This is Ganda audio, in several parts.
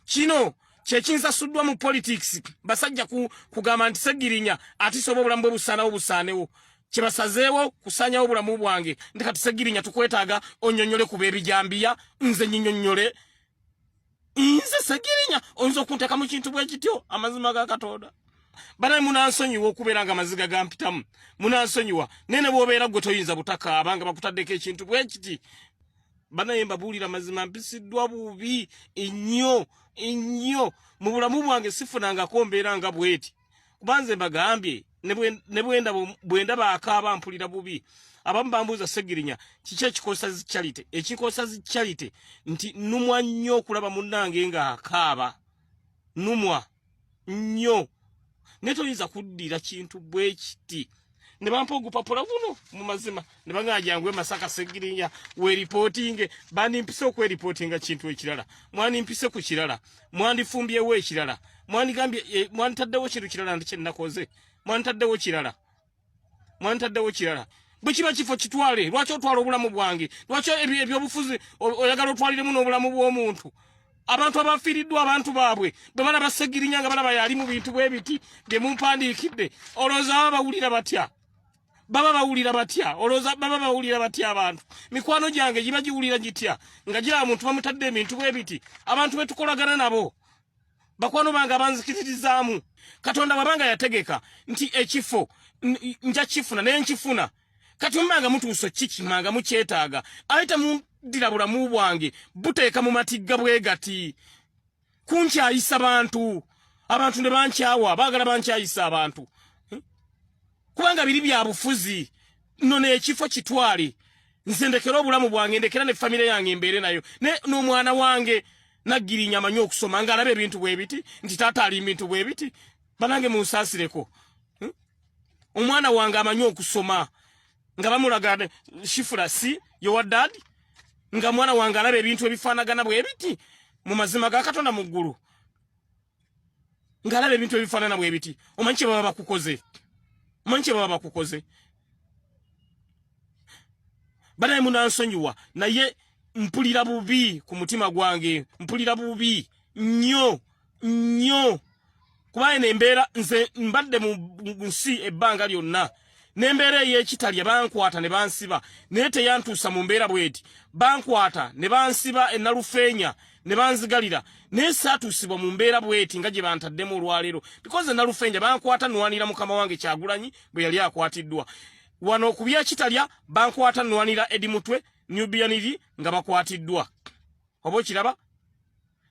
kino kyekinsasuddwa mu politics basajja kugamba nti segirinya atisoba obulamu bwe busaanawo busaanewo kyebasazeewo kusanyawo obulamu bwange ndi kati segirinya tukwetaaga onyonyole kuba ebijambiya nze nyinyonyole nze segirinya oyinza okunteka mu kintu bwekityo amazima ga katonda banaye munansonyiwa okubeera nga amaziga gampitamu munansonyiwa naye ne bwobeera gwe toyinza butakaaba nga bakutaddeko ekintu bwekiti banaye mbabuulira mazima mpisiddwa bubi ennyo ennyo mu bulamu bwange sifunangako mbeera nga bweti kuba nze mbagambye bwendaba akaaba mpulira bubi abamu bambuuza segirinya kiki ekikosa zi charity ekikosa zi charity nti numwa nnyo okulaba munnange nga akaaba numwa nnyo naye toyinza kuddira kintu bwe kiti ne bampa ogupapula guno mu mazima ne bagamba jangu e masaka segirinya weripootinge bandimpise okweripootinga kintu ekirala mwandimpise ku kirala mwandifumbyewo ekirala mwandigambye eh, mwanditaddewo kintu kirala ndi kye nakoze mwanditaddewo kirala mwantaddewo kirala bwe kiba kifo kitwale lwaki otwala obulamu bwange lwaki ebyobufuzi oyagala otwaliremu n'obulamu bw'omuntu abantu abafiiriddwa abantu baabwe bwe balaba segirinya nga balaba yali mu bintu bwe biti bye mumpandiikidde olowooza baba bawulira batya baba bawulira batya olowooza baba bawulira batya abantu mikwano gyange giba giwulira gitya nga giraba muntu bamutadde ebintu bwe biti abantu be tukolagana nabo bakwano bange abanzikiririzaamu katonda wabanga yategeka nti ekifo nja kifuna naye nkifuna kati omanga mutuuso kiki manga mukyetaaga aye temundira bulamu bwange buteeka mu matigga bwe gati kunkyayisa bantu abantu ne bankyawa baagala bankyayisa abantu kubanga biri bya bufuzi no ne ekifo kitwali nze ndekera obulamu bwange ndekera ne family yange mbere nayo ne no mwana wange nagiri nyama nyo okusoma nga alabe bintu bwebiti nti tata ali bintu bwebiti banange munsasireko hmm? omwana wange amanyo okusoma nga bamulaga shifura si yo wa dad nga mwana wange alabe bintu ebifanagana bwebiti mu mazima ga katonda mu ggulu ngalaba ebintu ebifanana bwebiti omanyi kyebaba bakukoze omanyi kyebaba bakukoze banaye munansonyiwa naye mpulira bubi ku mutima gwange mpulira bubi nnyo nnyo kuba eno embeera nze mbadde mu nsi ebbanga lyonna n'embeera ey'ekitalya bankwata ne bansiba naye teyantuusa mu mbeera bweti bankwata ne bansiba enalufeenya ne banzigalira naye saatuusibwa mu mbeera bweti nga gye bantaddemu olwaleero bikoze enalufeenya bankwata nwanira mukama wange kyagulanyi bwe yali akwatiddwa wano ku byekitalya bankwata nwanira edi mutwe nubianiri nga bakwatiddwa oba okiraba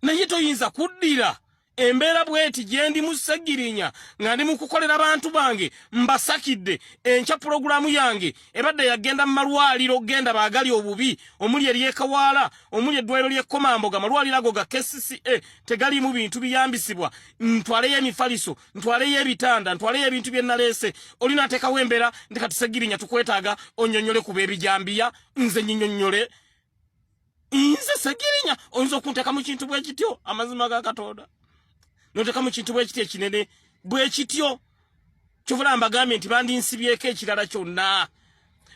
naye toyinza kuddira embeera bweti gyendi mu ssegirinya nga ndi mu kukolera bantu bange mbasakidde enkya pulogulaamu yange ebadde yagenda mu malwaliro okugenda baagali obubi omuli eryekawaala omuli eddwaliro ly'ekkomamboga amalwaliro ago ga kcca tegaliimu bintu biyambisibwa ntwaleyo emifaliso ntwaleyo ebitanda ntwaleyo ebintu bye nnaleese oli nateekawo embeera nti kati ssegirinya tukwetaaga onnyonnyole ku beebijambiya nze nyinyonnyole nze segirinya oyinza okunteka mu kintu bwe kityo amazima ga katonda noteka mu kintu bwe kityo ekinene bwe kityo kyovula mbagambye nti bandinsibyeko ekirala kyonna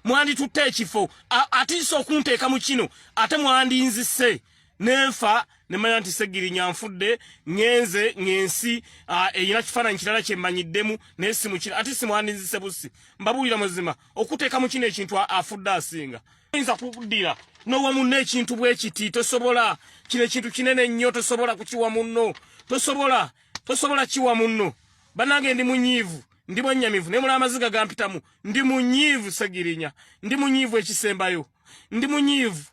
mwanditutte ekifo atiisa okunteeka mu kino ate mwandinzise nenfa nemanya nti segirinya nfudde ngenze ngensi eyina kifaananyi kirala kyemmanyiddemu naye simukira ate simwandinzise busi mbabuulira muzima okuteeka mu kino ekintu afudde asinga oyinza kukudira nowa munno ekintu bwe kiti tosobola kino ekintu kinene nnyo tosobola kukiwa munno tosobola tosobola kiwa munno banange ndi munyiivu ndi mwennyamivu naye mula amaziga gampitamu ndi munyiivu segirinya ndi munyiivu ekisembayo ndi munyiivu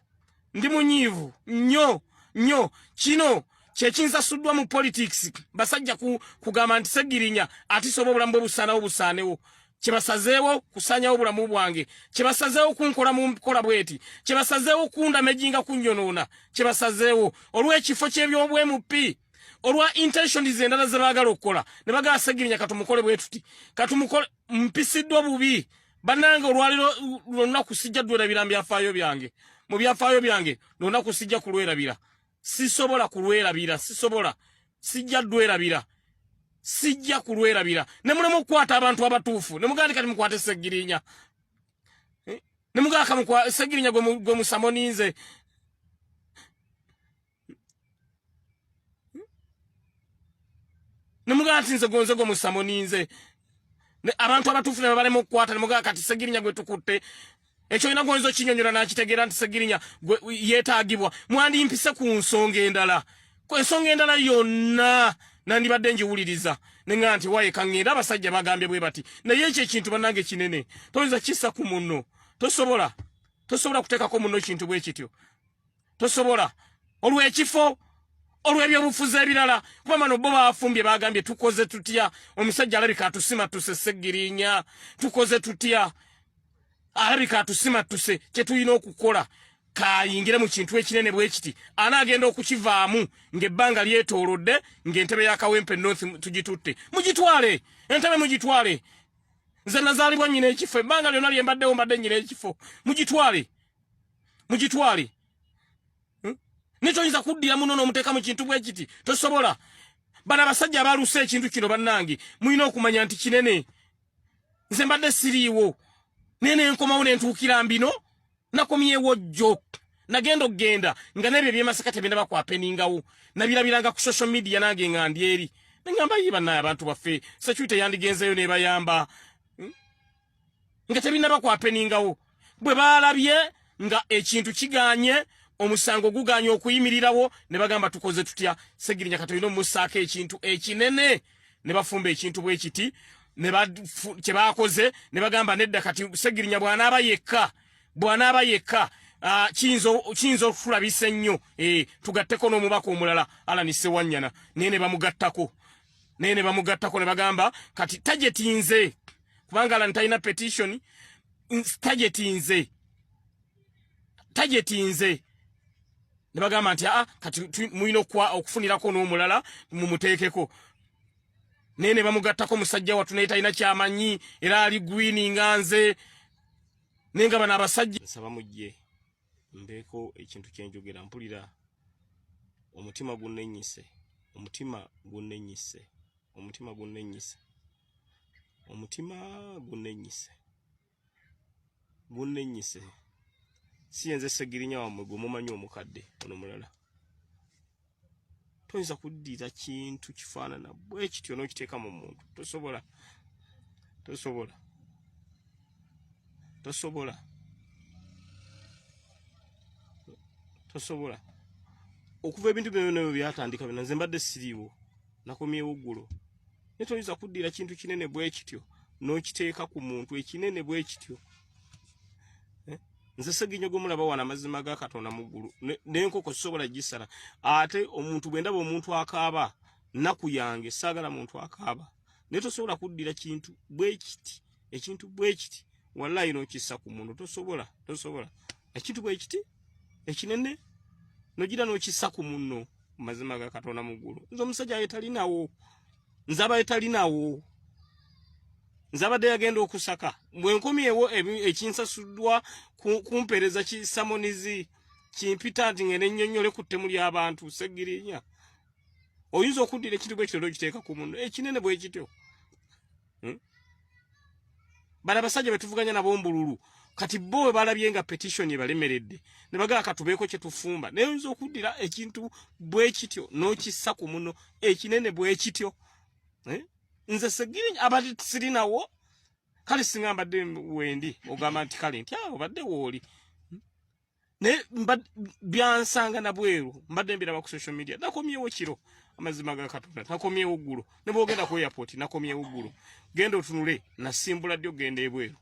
ndi munyiivu nnyo nnyo kino kyekinsasuddwa mu politics basajja kugamba nti segirinya atisoba obulamu bwe busanawo busaanewo kyebasazeewo kusanyawo obulamu bwange kyebasazeewo kunkola mu nkola bweti kyebasazeewo kundamejinga kunyonoona kyebasazeewo olw'ekifo ky'ebyobwemupi olwa intentions endala ze baagala okukola ne bagala segirinya katumukole bwe tuti katumukole mpisiddwa bubi bannange olwaliro lwonna kusijja ddwerabira mu byafaayo byange mu byafaayo byange lwonna kusijja kulwerabira sisobola kulwerabira sisobola sijja dwerabira sijja kulwerabira ne mulema okukwata abantu abatuufu ne mugandi kati mukwate segirinya eh? ne mugaka mukwa segirinya gwe musamoninze ne mugaka tinze gonze gwe musamoninze abantu abatuufu ne balema okukwata ne mugaka kati segirinya gwe tukutte ekyo olina gwoyinza okinyonyola nakitegeera nti segirinya yetaagibwa mwandimpise ku nsonga endala ku ensonga endala yonna nandibadde njiwuliriza nenga nti waye kaŋŋenda abasajja bagambye bwe bati naye ekyo ekintu bannange kinene toyinza kissa ku munno tosobola tosobola kuteekako munno kintu bwe kityo tosobola olwekifo olwebyobufuzi ebirala kuba mano bo bafumbye bagambye tukoze tutya omusajja alabika atusima tuse segirinya tukoze tutya alabika atusima tuse kyetulina okukola kayingire mu kintu ekinene bwekiti anaagenda okukivaamu ngaebbanga lyetoolodde ngaentebe ya kawempe north tugitutte mugitwale entebe mugitwale nze nazaalibwa nyina ekifo ebbanga lyona lyembaddewo mbadde nyina ekifo mugitwale mugitwale hmm? nekyoyinza kuddira muno nomuteeka mu kintu bwe kiti tosobola bana abasajja abalusa ekintu kino bannange mulina okumanya nti kinene nze mbadde siriiwo naye nenkomawo nentuukira mbino nakomyewo jjo nagenda okugenda nga nebyo ebyemasaka tebinda bakwapeningawo nabirabiranga ku social media nange nga ndi eri nengamba yi banaye abantu baffe security yandigenzeyo nebayamba nga tebinaba kwapeningawo bwe baalabye nga ekintu kiganye omusango guganye okuyimirirawo ne bagamba tukoze tutya segirinya katolina omusaako ekintu ekinene ne bafumba ekintu bwe kiti kye baakoze ne bagamba nedda kati segirinya bw'anaaba yekka bw'anaaba yekka Ah, kiyinza okutulabisa ennyo eh, tugatteko n'omubaka omulala alani sewanyana naye ne bamugattako naye ne bamugattako ne bagamba kati tajetinze kubanga alani talina petition tageti nze tageti nze ne bagamba nti aa ah, kati mulina okufunirako n'omulala mumuteekeko naye ne bamugattako musajja wattu naye talina kyamanyi era ali gwini nga nze naye nga bano abasajja nsaba mujje mbeeko ekintu kyenjogera mpulira omutima gunnenyise omutima gunnenyise omutima gunnenyise omutima gunenyise gunenyise si yenze segirinya wamwe gumumanyi omukadde ono mulala toyinza kuddira kintu kifaanana bwe kityo n'okiteeka mu muntu tosobola tosobola tosobola tosobola okuva ebintu byona byatandika bino nze mbadde siriiwo nakomyewo ggulo naye toyinza kuddira kintu kinene bwe kityo n'okiteeka ku muntu ekinene bwe kityo eh? nze seginyo gwe mulaba wano amazima ga katonda mu ggulu n'enkoko sisobola gisala ate omuntu bwe ndaba omuntu akaaba nnaku yange saagala muntu akaaba naye tosobola kuddira kintu bwe kiti ekintu bwe kiti wallayi n'okissa ku muntu tosobola tosobola ekintu bwe kiti ekinene nogira n'okissa ku munno mazima ga katonda muggulu nze omusajja yetalinawo nze aba yetalinawo nze abadde yagenda okusaka bwenkomyewo ekinsasuddwa kumpeereza kisamonizi kimpita nti ngende nnyonnyole ku ttemu ly'abantu segirinya oyinza okuddira ekintu bwekityo nokiteeka ku muno ekinene bwekityo hmm? bala basajja betuvuganya nabo mbululu kati bo we balabye nga petition ebalemeredde ne bagala katubeeko kye tufumba naye oyinza okuddira ekintu bwe kityo n'okissa ku muno ekinene bwe kityo eh? nze segiri abadde sirinawo kale singa mbadde wendi ogamba nti kale nti awo badde wooli naye byansanga nabweru mbadde mbiraba ku social media nakomyewo kiro amazima ga katonda nakomyewo ggulo ne bwogenda ku airport nakomyewo ggulo genda otunule nasimbula ddi ogenda ebweru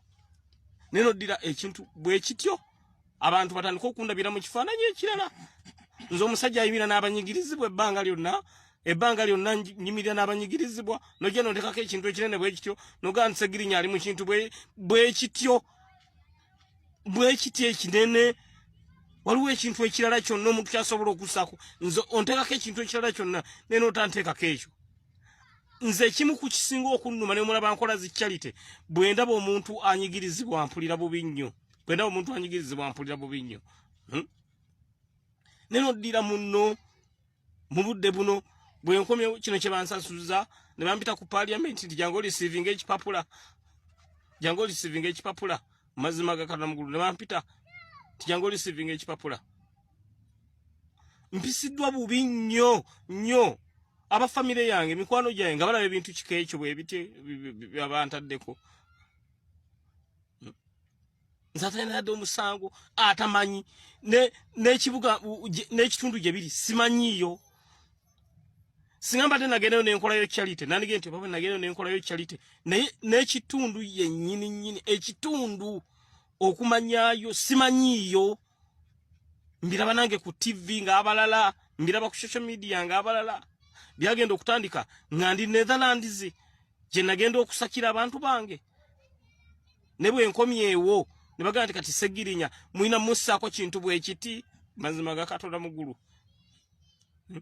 naye noddira ekintu bwe kityo abantu batandika okundabira mu kifaananyi ekirala nze omusajja ayimira n'abanyigirizibwa ebbanga lyonna ebbanga lyonna nyimirira n'abanyigirizibwa nojja nontekako ekintu ekinene bwe kityo nogaa ntisegirinya ali mu kintu bwe kityo bwekiti ekinene waliwo ekintu ekirala kyonna omuntu kyasobola okusaako nze onteekako ekintu ekirala kyonna naye nootanteekako ekyo nze ekimu ku kisinga okunnuma ne mulaba nkola zi charity bwe ndaba omuntu anyigirizibwa mpulira bubi nnyo bwe ndaba omuntu anyigirizibwa mpulira bubi nnyo hmm? ne noddira munno mu budde buno bwe nkomye kino kye bansasuza ne bampita ku parliament nti jangu olisiivinga ekipapula jangu olisiivinga ekipapula mazima gakana mugulu ne bampita nti jangu olisiivinga ekipapula mpisiddwa bubi nnyo nnyo aba famire yange mikwano gyange nga balaba ebintu kika ekyo bwebitye byabantaddeko nze atenadde omusango atamanyi n'ekibuga n'ekitundu gye biri simanyiiyo singa mbadde nagendayo nenkolayo charity nandige nti baba nagendayo nenkolayo charity naye n'ekitundu yennyini nnyini ekitundu okumanyayo simanyiiyo mbiraba nange ku tv ng'abalala mbiraba ku social media ng'abalala byagenda okutandika nga ndi netherlands gye nagenda okusakira abantu bange ne bwe nkomyewo ne bagamba nti kati segirinya mulina mussaako kintu bwe kiti mazima ga katonda mu ggulu hmm?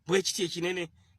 bwe kiti ekinene